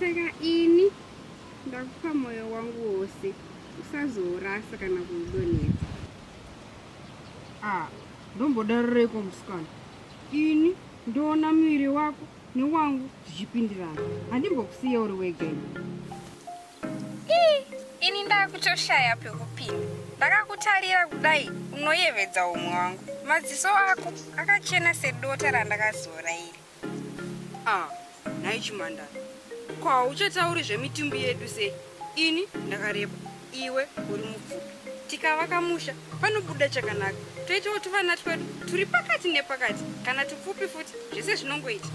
saka ini ndakupa moyo wangu wose usazourasa kana kuudonhedza ah, ndombodarireko musikana ini ndoona muviri wako newangu zvichipindirana handimbokusiya uri wegeni ini ndakutoshaya pekupinda ndakakutarira kudai unoyevedza umwe wangu madziso ako akachena sedota randakazora iri ah, nhai chimandara ko hauchatauri zvemitumbi yedu sei ini ndakareba iwe uri mupfupi tikavaka musha panobuda chakanaka toitawo tuvana twedu turi pakati nepakati kana tupfupi futi zvese zvinongoita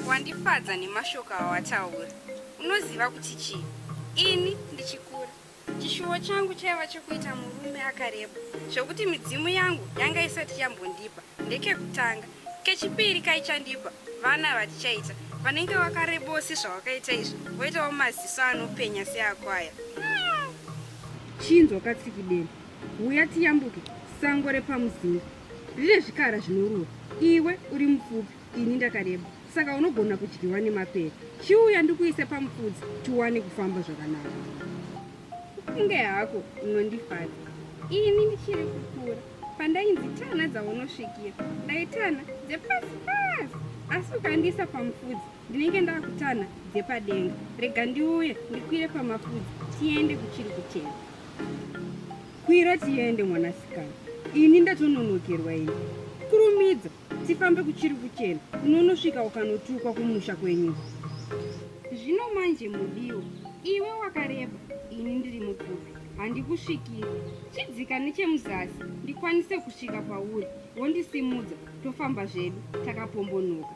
Wandifadza nemashoko awataura. Unoziva kuti chii? Ini ndichikura, chishuwo changu chaiva chekuita murume akareba zvekuti midzimu yangu yanga isati yambondipa ndekekutanga. Kechipiri kaichandipa vana vatichaita vanenge vakarebowo sezvawakaita izvi voitawo maziso anopenya seako aya. Chinzwa katsikideni, huya tiyambuke sango repamuzinda rine zvikara zvinorura. Iwe uri mupfupi ini ndakareba saka unogona kudyiwa nemapere chiuya ndikuise pamufudzi tiwane kufamba zvakanaka kunge hako unondifadza ini ndichiri kukura pandainzi tana dzaunosvikira ndaitana dzepasi pasi asi ukandiisa pamufudzi ndinenge ndakutana dzepadenga rega ndiuye ndikwire pamafudzi tiende kuchiri kutena kwira tiende mwanasikana ini ndatononokerwa ini kurumidza Tifambe kuchiri kuchena unonosvika ukanotukwa kumusha kwenyu. Zvino manje mudiwa, iwe wakareba, ini ndiri mupfupi, handikusvikiri. Chidzika nechemuzasi ndikwanise kusvika pauri, wondisimudza, tofamba zvedu takapombonoka.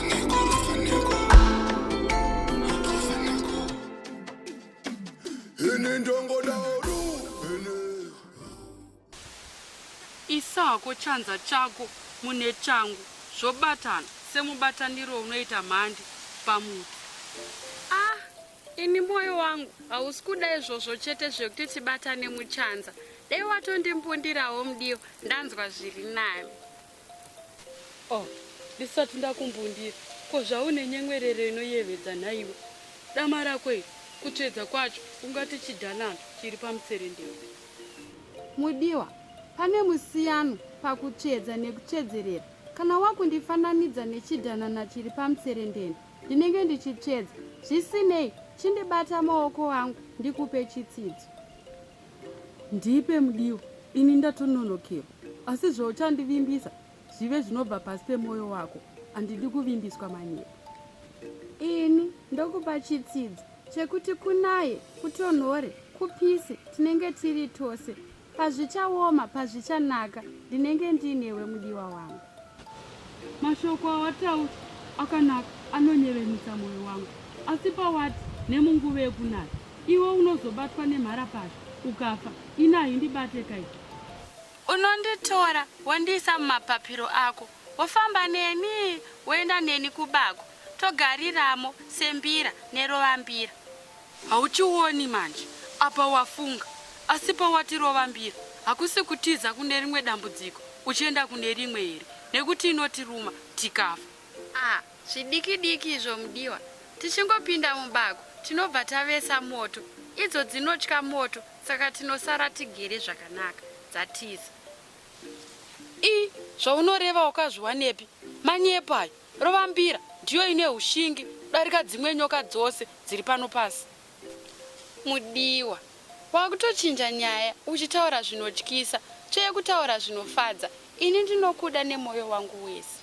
isa hako chanza chako mune changu zvobatana semubataniro unoita mhandi pamuti ah ini mwoyo wangu hausi kuda izvozvo chete zvekuti tibatane muchanza dai watondimbundirawo mudiyo ndanzwa zviri nani Oh, ndisati ndakumbundira ko zvaune nyemwerero inoyevedza nhaiwe dama rako iri kutsvedza kwacho ungati chidanano chiri pamutserendero mudiwa pane musiyano pakutsvedza nekutsvedzerera kana wakundifananidza nechidanana chiri pamutserendeno ndinenge ndichitsvedza zvisinei chindibata maoko angu ndikupe chitsidzo Ndipe mudiwa, ini ndatononokerwa. Asi zvauchandivimbisa zvive zvinobva pasi pemwoyo wako. Handidi kuvimbiswa manyepo. Ini ndokupa chitsidzo chekuti kunaye, kutonhore, kupise, tinenge tiri tose. Pazvichaoma, pazvichanaka, ndinenge ndinewe mudiwa wangu. Mashoko awataura akanaka anonyevenutsa mwoyo wangu, asi pawati nemunguva yekunaya iwe unozobatwa nemharapazha ukafa, ini haindibate kai. Unonditora wondiisa mumapapiro ako, wofamba neni woenda neni kubako, togariramo sembira nerovambira. Hauchioni manje apa wafunga asi pawati rovambira hakusi kutiza kune rimwe dambudziko uchienda kune rimwe here nekuti inotiruma tikafa. Ah zvidiki diki izvo mudiwa tichingopinda mubako tinobva tavesa moto idzo dzinotya moto saka tinosara tigere zvakanaka dzatiza. Ii zvaunoreva wakazviwanepi manyepo ayo. Rovambira ndiyo ine hushingi kudarika dzimwe nyoka dzose dziri pano pasi. Mudiwa, wakutochinja nyaya uchitaura zvinotyisa tsvee kutaura zvinofadza. Ini ndinokuda nemoyo wangu wese.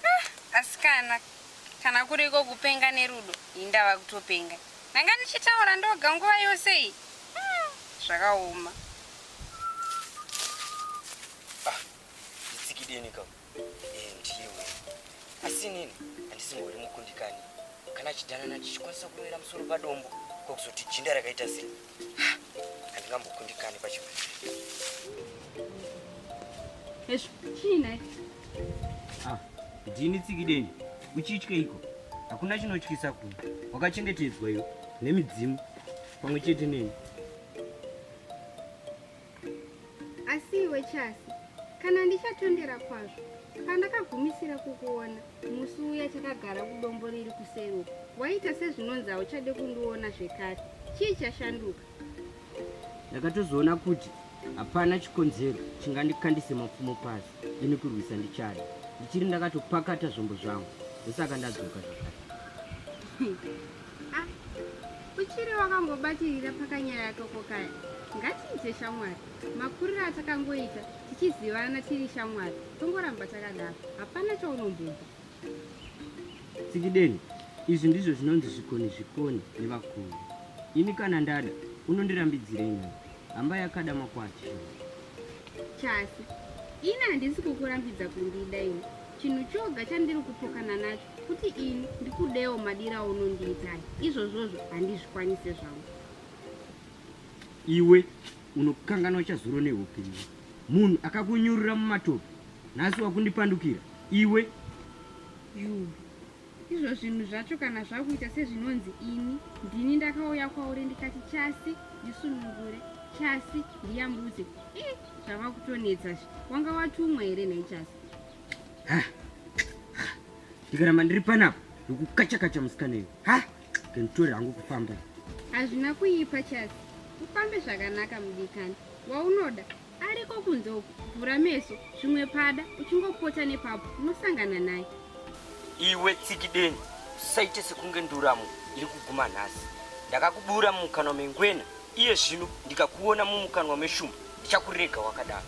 Ah, asikana kana kuriko kupenga nerudo indava kutopenga ndanga ndichitaura ndoga nguva yose iyi hmm, zvakaoma ah, nditsikidenika eh, ndiwe asi nini handisimbori mukundikani kana chidanana tichikwanisa kuwera musoro padombo kwakuzoti jinda rakaita sei Handingambokundikani pachinhu. Hezvo, chii nhai? Ah, ndini tsikideni. Uchityeiko? Hakuna chinotyisa kuno. Wakachengetedzwa iwe nemidzimu pamwe chete neni. Asi iwe Chasi, kana ndichatondera kwazvo, pandakagumisira kukuona musi uya takagara kudombo riri kuseri uko, waita sezvinonzi hauchade kundiona zvekare. Chii chashanduka? Ndakatozoona kuti hapana chikonzero chingandikandise mapfumo pasi ini kurwisa ndichada. Ndichiri ndakatopakata zvombo zvangu ndosaka ndadzoka zvakare. Ah, uchiri wakangobatirira pakanyaya toko kaya ngatiite shamwari makuriro atakangoita tichizivana tiri shamwari tongoramba takadaro hapana chaunombobva tsikideni izvi ndizvo zvinonzi zvikoni zvikoni nevakuru ini kana ndada unondirambidzirei nai hamba yakada makwati chasi ini handisi kukurambidza kundida ini chinhu choga chandiri kupokana nacho kuti ini ndikudewo madira aunondiita izvozvozvo handizvikwanise zvangu iwe unokanganwa chazuro neupenyu munhu akakunyurira mumatope nhasi wakundipandukira iwe you izvo zvinhu zvacho kana zvakuita sezvinonzi ini ndini ndakauya kwauri ndikati chasi ndisunungure chasi ndiyambudze e zvava kutonetsa zve wanga watumwa here nhai chasi ndikaramba ndiri panapa ndokukachakacha musikana iyo ha kenditori hangu kufamba hazvina kuipa chasi ufambe zvakanaka mudikani waunoda ariko kunze uku vhura meso zvimwe pada uchingopota nepapo unosangana naye iwe tsikideni usaite sekunge nduramo iri kuguma nhasi ndakakubura mumukanwa mengwena iye zvino ndikakuona mumukanwa meshumba ndichakurega wakadaro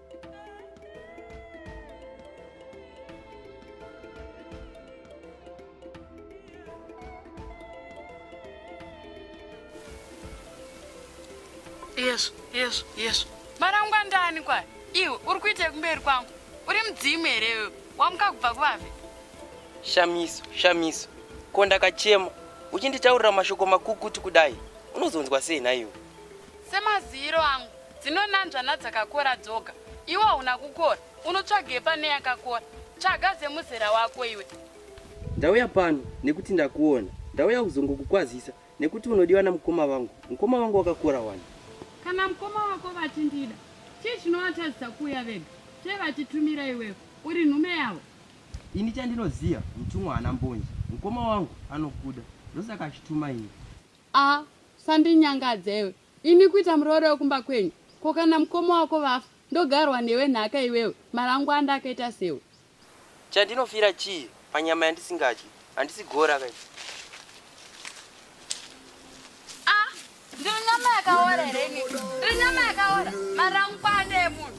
yesu yesu yesu marangwa ndani kwayo iwe uri kuita yekumberi kwangu uri mudzimu here iwe wamuka kubva kuvafi shamiso shamiso ko ndakachema uchinditaurira mashoko makukuti kudai unozonzwa sei nhaiwe Semaziyiro angu, dzinonanzva nadzakakora dzoga. Iwe hauna kukora, unotsvagei pane yakakora? Tsvaga dzemuzera wako iwe. Ndauya pano nekuti ndakuona. Ndauya kuzongokukwazisa nekuti unodiwa namukoma vangu. Mukoma vangu wakakora wani. Kana mukoma wako vachindida, chii chinovatadzisa kuuya vega? Sei vachitumira iwewe? Uri nhume yavo? Ini chandinoziva, mutumwa haana mbonje. Mukoma wangu anokuda, ndosaka achituma ini. Aah usandinyangadza iwe. Ini kuita muroora wekumba kwenyu? Ko kana mukoma wako vafa ndogarwa newe nhaka iwewe marangwanda akaita sewe. Chandinofira chii panyama yandisingadyi? Handisi gora ka ini. Aah ndiri nyama yakaora here ini? Ndiri nyama yakaora? Marangwanda emunhu.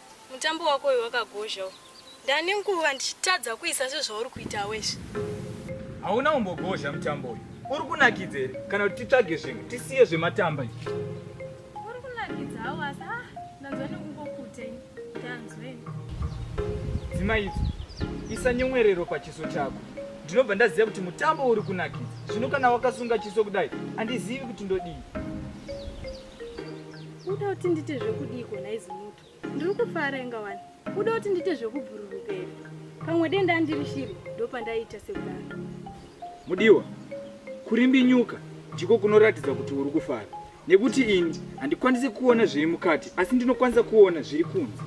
Mutambo wako uyu wakagozha uyu. Ndane nguva ndichitadza kuisa sezvauri kuita wezvi. Hauna umbogozha mutambo uyu. Uri kunakidza here kana kuti titsvage zvimwe tisiye zvematamba izvi. Uri kunakidza hawo asi ah ndanzwa nekungokuta ini. Ndanzweni. Dzima idzo. Isa nyomwerero pachiso chako. Ndinobva ndaziva kuti mutambo uri kunakidza. Zvino kana wakasunga chiso kudai handizivi kuti ndodii. uda kuti ndite zvekudii kona izi muto ndiri kufara inga wani uda kuti ndite zvekubhururuka here pamwe denda andiri shiri ndopandaiita sekudaro mudiwa kurimbinyuka ndiko kunoratidza kuti uri kufara nekuti ini handikwanisi kuona zviri mukati asi ndinokwanisa kuona zviri kunze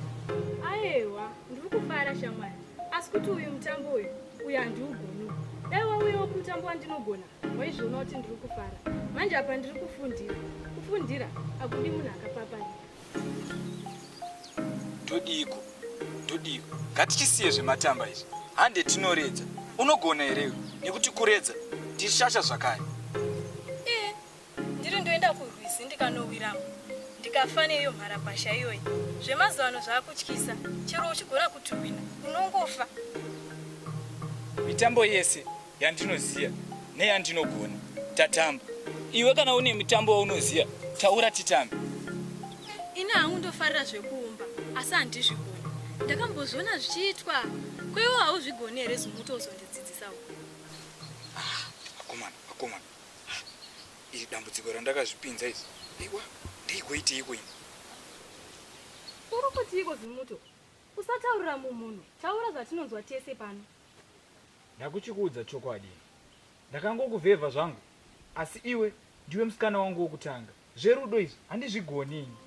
aewa ndiri kufara shamwari asi kuti uyu mutambo uyu uyu handiugoni dai wauyawo kumutambo wandinogona Waizviona kuti ndiri kufara manje apa ndiri kufundira. Kufundira akudi munhu akapapana. Ndodiko, ndodiko. Ngatichisiye zvematamba izvi. Hande tinoredza. Unogona here iwe? Nekuti kuredza tishasha zvakare. Ndiri ndoenda kurwizi ndikanowiramo ndikafa neiyo mharapasha iyoyi. Zvemazuva ano zvaakutyisa, chero uchigona kutuhwina unongofa. Mitambo yese yandinoziva neyandinogona tatamba. Iwe kana une mitambo waunoziva taura titambe. Ini hangu ndofarira zvekuumba asi handizvigoni. Ndakambozviona zvichiitwa kweiwo hauzvigoni here zumuti uzondidzidzisawo? Ah, akomana, akomana. iri dambudziko randakazvipinza iri aiwa ndaigoitiiko ini uri kutiiko zimuto usataurira mumhuno taura zvatinonzwa tese pano ndakuchikuudza chokwadi ndakangokuvhevha zvangu asi iwe ndiwe musikana wangu wokutanga Zverudo izvi handizvigoni ini.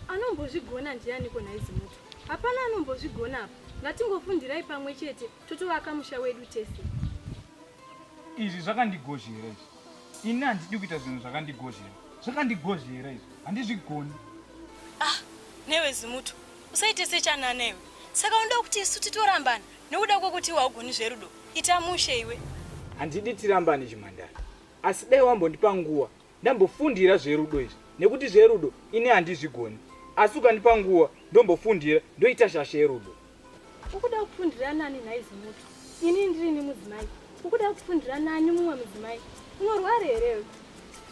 Anombozvigona ndianiko nhai Zimuto? Hapana anombozvigona apa. Ngatingofundirai pamwe chete totovaka musha wedu tese. Izvi zvakandigozhera izvi. Ini handidi kuita zvinhu zvakandigozhera. Zvakandigozhera izvi. Handizvigoni. Ah, newe Zimuto. Usaite sechana newe. Saka unoda kuti isu titorambana nokuda kwekuti iwe haugoni zverudo. Ita mushe iwe. Handidi tirambane chimhandara. Asi dai wambondipa nguwa ndambofundira zverudo izvi nekuti zverudo ini handizvigoni asi ukandipa nguwa ndombofundira ndoita shasha yerudo. Ukuda kufundira nani nhai Zimuti? Ini ndirini mudzimai. Ukuda kufundira nani mumwe mudzimai? Unorwara here?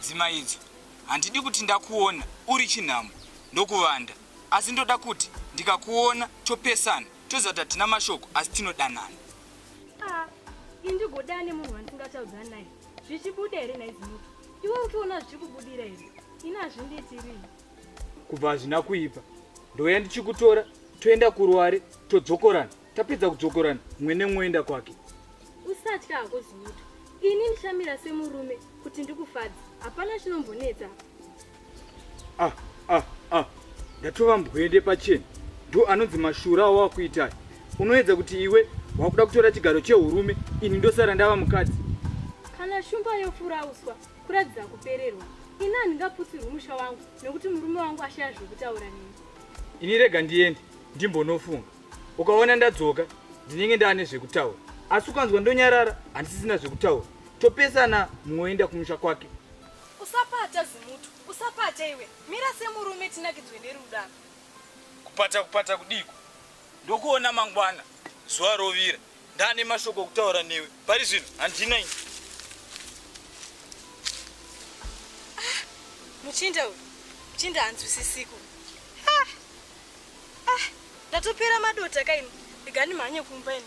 Dzimai idzo handidi kuti ndakuona uri chinhamo ndokuvanda asi ndoda kuti ndikakuona topesana tozata tina mashoko asi tinodanana. Ah, indigoda nemunhu wandisingachaudzani naye zvichibuda here naizimuti iwe uchiona zvichikubudira here ini hazvindiitirii kubva hazvina kuipa ndouya ndichikutora toenda kuruware todzokorana tapedza kudzokorana mumwe nemwoenda kwake usatya hako zimuti ini ndichamira semurume kuti ndikufadzi hapana chinombonetsa ah ah ah ndatova mbwende pacheni ndo anonzi mashura awakuitai unoedza kuti iwe wakuda kutora chigaro cheurume ini ndosara ndava mukadzi kana shumba yofurauswa kuratidza kupererwa ini handingaputsirwi musha wangu nekuti murume wangu ashaya zvekutaura neni ini rega ndiende ndimbonofunga ukaona ndadzoka ndinenge ndaane zvekutaura asi ukanzwa ndonyarara handisisina zvekutaura topesana mumwe oenda kumusha kwake Usapata zimutu usapata iwe mira semurume tinakidzwe nerudo apa. Kupata kupata kudiiko ndokuona mangwana zuva rovira ndane mashoko okutaura newe pari zvino handina ini. Ah, muchinda uyu muchinda hanzwisisiku ah, ah, ndatopera madota kaini rega ndimhanye kumba ini.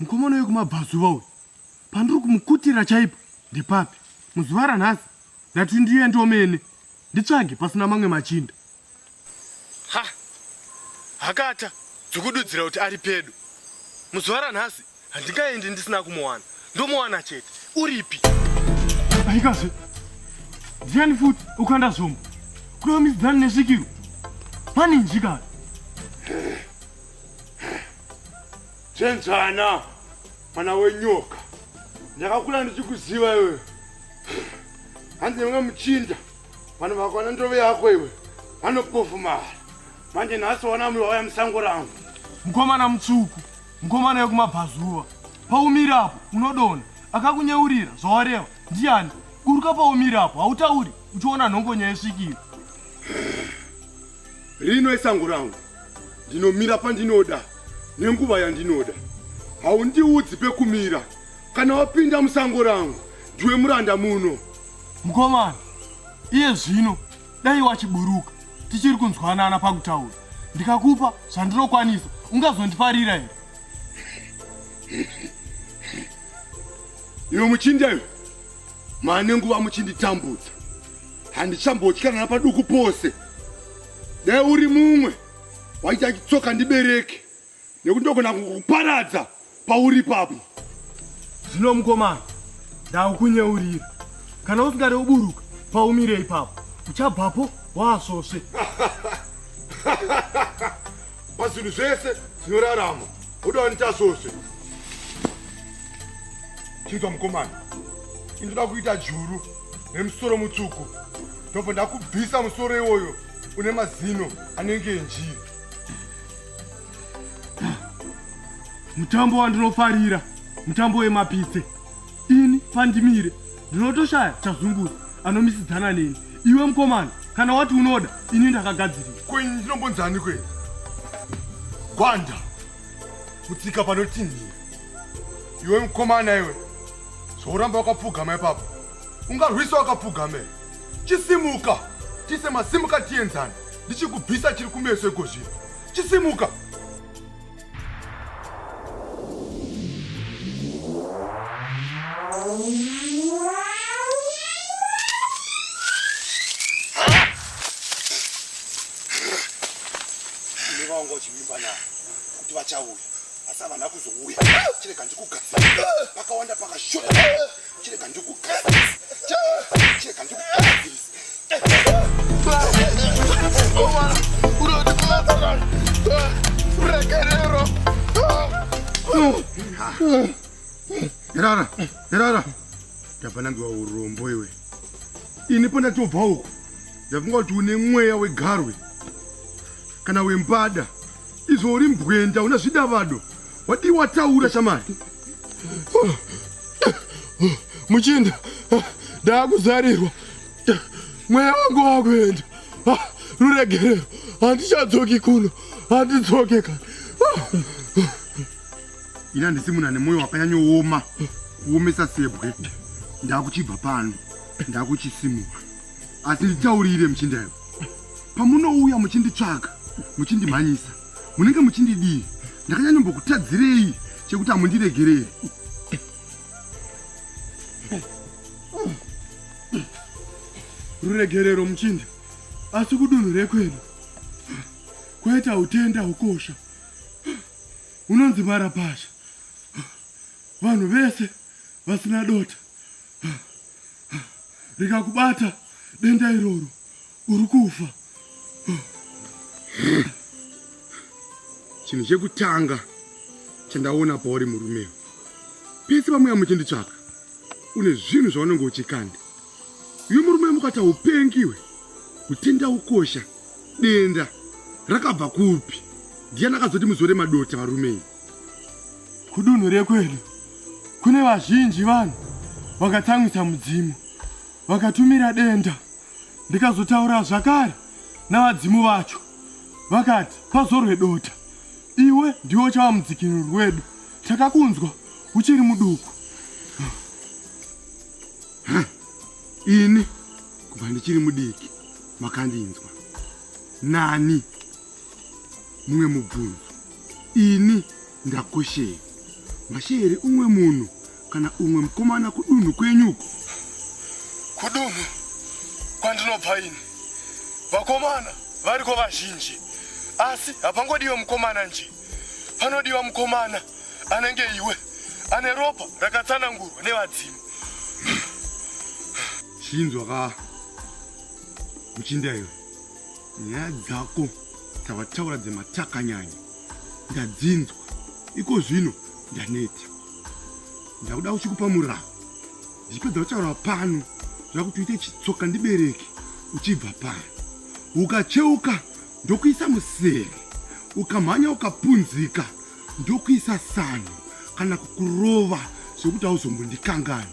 mukomana wekumabvazuva uyu pandiri kumukutira chaipo ndepapi muzuva ranhasi ndati ndiende omene nditsvage pasina mamwe machinda ha hakata dzikududzira kuti ari pedo muzuva ranhasi handingaendi ndisina kumuwana ndomuwana chete uripi aikazve ndiani futi ukanda zvombo kureva mizidzani nesvikiro pane njikana chenjana mwana wenyoka ndakakula ndichikuziva iwe hanzi nemwe muchinda Vanhu vakwana ndove yako iwe. Vanokufumara. Manje nhasi wana mwe waya musango rangu. Mkomana mtsvuku. Mkomana yekumabvazuva. Paumira apo unodona. Akakunyeurira zvawareva. Ndiani? Buruka paumira apo hautauri uchiona nhongonya yesvikira. Rino isango rangu. Ndinomira pandinoda nenguva yandinoda. Haundiudzi pekumira. Kana wapinda musango rangu ndiwe muranda muno. Mukomana, iye zvino dai wachiburuka tichiri kunzwanana pakutaura. Ndikakupa zvandinokwanisa ungazondifarira here? Iwe muchindi ayo mane nguva muchinditambudza handichambotyana paduku pose dai uri mumwe waita chitsoka ndibereke nekuti ndogona kukuparadza pauri papo zvino mukomana ndaukunyeurira kana usingade uburuka paumire ipapo uchabvapo waasvosve pazvinhu zvese zvinorarama uda wanitasvosve chinzwa mukomana indoda kuita juru nemusoro mutsvuku ndobva ndakubvisa musoro iwoyo une mazino anenge enjiri mutambo wandinofarira mutambo wemapitse ini pandimire ndinotoshaya chazunguru anomisidzana neni iwe mukomana kana wati unoda ini ndakagadzirira kwenyu ndinombonzani kwenyu gwanda kutsika panotinhira iwe mukomana iwe zvauramba wakapfugama ipapo ungarwisa wakapfugama chisimuka tise masimuka tienzane ndichikubvisa chiri kumeso iko zvino chisimuka nevaonga uchivimba navo kuti vachauya asi havana kuzouya chirega ndikugadzira pakawanda pakashota Chirega ndikukazise. Chirega ndikukazise. Irara, irara. Ndabva nangiwa urombo iwe. Ini pandatobva uko. Ndafunga kuti une mweya wegarwe. Kana wembada. Izvo uri mbwenda una zvidavado. Wadii wataura shamari? muchinda ndakuzarirwa mweya wangu wakuenda ruregerero handichadzoki kuno handidzoke kana ini handisi munhu ane mwoyo wakanyanyooma kuomesa sebwe ndakuchibva pano ndakuchisimura asi nditaurire muchindayo pamunouya muchinditsvaga muchindimhanyisa munenge muchindidii ndakanyanyombokutadzirei chekuti hamundiregerei ruregerero muchinda asi kudunhu rekwedu kwaita utenda hukosha unonzi marapasha vanhu vese vasina dota rikakubata denda iroro uri kufa chinhu chekutanga chandaona pauri murumewo pese pamuya muchinditsvaka une zvinhu zvaunenge uchikanda uyo murume mukati haupengiwe kutenda ukosha denda rakabva kupi ndiyani akazoti muzore madota varumei kudunhu rekwedu kune vazhinji vanhu vakatsamwisa mudzimu vakatumira denda ndikazotaura zvakare navadzimu vacho vakati pazorwe dota iwe ndiwo chava mudzikinuri wedu takakunzwa uchiri muduku ini kubva ndichiri mudiki makandinzwa nani mumwe mubvunzo ini ndakoshei masheere umwe munhu kana umwe mukomana kudunhu kwenyu uku kudunhu kwandinobva ini vakomana variko vazhinji asi hapangodiwe mukomana nje panodiwa mukomana anenge iwe ane ropa rakatsanangurwa nevadzimu chinzwa ka muchinda iwe nyaya dzako dzavataura dzematakanyanya ndadzinzwa iko zvino ndaneta ndakuda uchikupa muraho zvichipedza kutaura pano zvakuti uite chitsoka ndibereke uchibva pano ukacheuka ndokuisa musere ukamhanya ukapunzika ndokuisa sano kana kukurova zvekuti hauzombondikangani